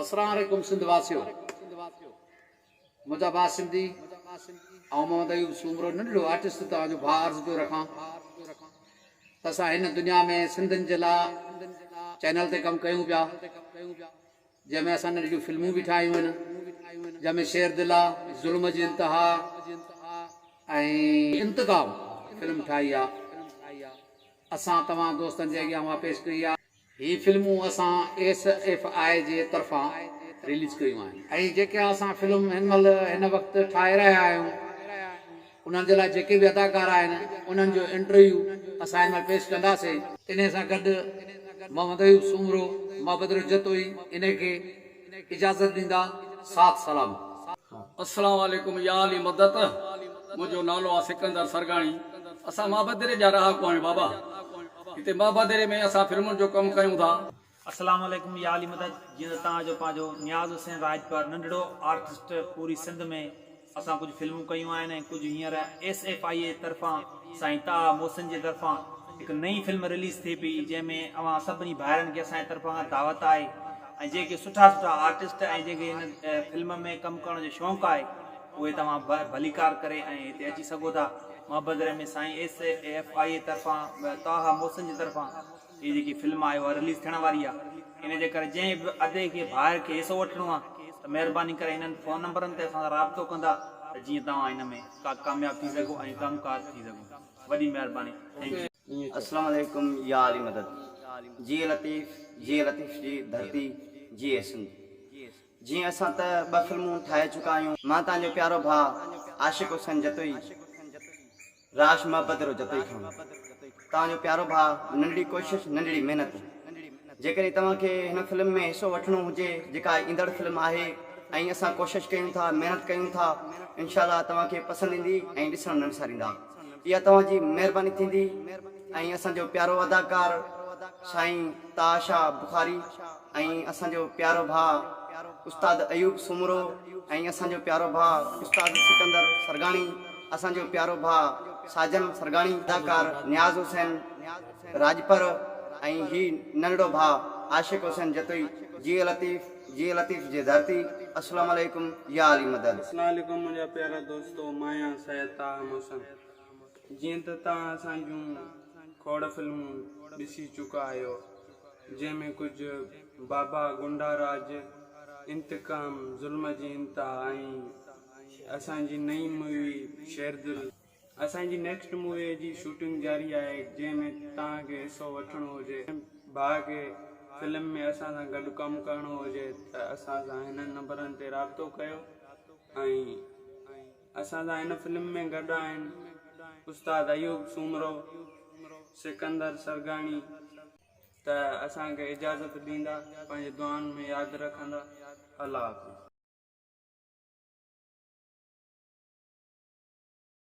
اسلام عليڪم سنڌ واسيو منهنجا ڀا سنڌي آئون محمد ايوب سومرو ننڍڙو آرٽسٽ توهان جو ڀا عرض پيو رکان ته اسان هن دنيا ۾ سنڌن جي لا چينل تي ڪم ڪيون پيا جنهن ۾ اسان ننڍڙيون فلمون به ٺاهيون آهن جنهن ۾ شير دل آ ظلم جي انتها ۽ انتقام فلم ٺاهي آ اسان توهان دوستن جي اڳيان اها پيش ڪئي آ هي فلمون اسان ايس ايف آء جي طرفان رليز ڪيون آهن. ۽ جيڪي اسان فلم هن مهل هن وقت ٺاهي رهيا آهيون انهن جي لاء جيڪي به اداڪار آهن انهن جو انٽرويو اسان هن مهل پيش ڪنداسين. انهي سان گڏ محمد ايوب سومرو، محبت رجه توهين انهي کي. اجازت ڏيندا ساٿ سلام. السلام عليڪم يا علي مدد منهنجو نالو آ سڪندر سرگاڻي اسان مهابدري جا رهاڪو آهيون بابا هتي مهابدري ۾ اسان فلمن جو ڪم ڪيون ٿا. السلام عليڪم يا علي مدد جيئن ته توهان جو پنهنجو نياز حسين راڄپر ننڍڙو آرٽسٽ پوري سنڌ ۾ اسان ڪجهه فلمون ڪيون آهن ۽ ڪجهه هينئر ايس ايف آئي اي طرفان سائين طاها محسن جي طرفان هڪ نئين فلم رليز ٿئي پئي جنهن ۾ اوهان سڀني ڀائرن کي اسان جي طرفان کان دعوت آهي ۽ جيڪي سٺا سٺا آرٽسٽ ۽ جنهن کي هن فلم ۾ ڪم ڪرڻ جو شونق آهي اهي توهان ڀليڪار ڪري ۽ هتي اچي سگهو ٿا. مهبدري ۾ سائين ايس ايف آئي اي طرفان طاها محسن جي طرفان هي جيڪي فلم آهي اها رليز ٿيڻ واري آهي ان جي ڪري جنهن به ادي کي ڀائر کي حصو وٺڻو آهي ته مهرباني ڪري هنن فون نمبرن تي اسان سان رابطو ڪندا ته جيئن توهان ان ۾ ڪا ڪامياب ٿي سگهو ۽ ڪم ڪار ٿي سگهو وڏي مهرباني ٿينڪ يو. اسلام عليڪم يا علي مدد جي لطيف جي لطيف جي ڌرتي جي سنڌ جي اسان ته ٻه فلمون ٺاهي چڪا آهيون مان تهان جو پيارو ڀاء عاشق حسين جتوئي. راش محبت رو جتوئي کان توهان جو پيارو ڀاء ننڍڙي ڪوشش ننڍڙي محنت جيڪڏهن توهان کي هن فلم ۾ حصو وٺڻو هجي جيڪا ايندڙ فلم آهي ۽ اسان ڪوشش ڪيون ٿا محنت ڪيون ٿا انشاء الله توهان کي پسند ايندي ۽ ڏسڻ نه وساريندا اها توهان جي مهرباني ٿيندي ۽ اسان جو پيارو اداڪار سائين طاها شاهه بخاري ۽ اسان جو پيارو ڀاء استاد ايوب سومرو ۽ اسان جو پيارو ڀاء استاد سڪندر سرگاڻي اسان جو پيارو ڀاء ساجن سرگاڻي اداڪار نياز حسين راڄپر ۽ هي ننڍڙو ڀاء عاشق حسين جتوئي جيئي لطيف جيئي لطيف جي ڌرتي السلام عليڪم يا علي مدد. السلام عليڪم منهنجا پيارا دوستو مان آهيان سيد طاهه محسن جيئن ته توهان اسان جون کوڙ فلمون ڏسي چڪا آهيو جنهن ۾ ڪجهه بابا غنڊا راڄ، انتقام، ظلم جي انتها ۽ اسان جي نئين مووي شيردل. اسان جي نيڪسٽ مووي جي شوٽنگ جاري آهي جنهن ۾ توهان کي حصو وٺڻو هجي. ڀاء کي فلم ۾ اسان سان گڏ ڪم ڪرڻو هجي ته اسان سان هنن نمبرن تي رابطو ڪيو ۽. اسان سان هن فلم ۾ گڏ آهن استاد ايوب سومرو، سڪندر سرگاڻي ته اسان کي اجازت ڏيندا پنهنجي دعائن ۾ ياد رکندا الله حافظ.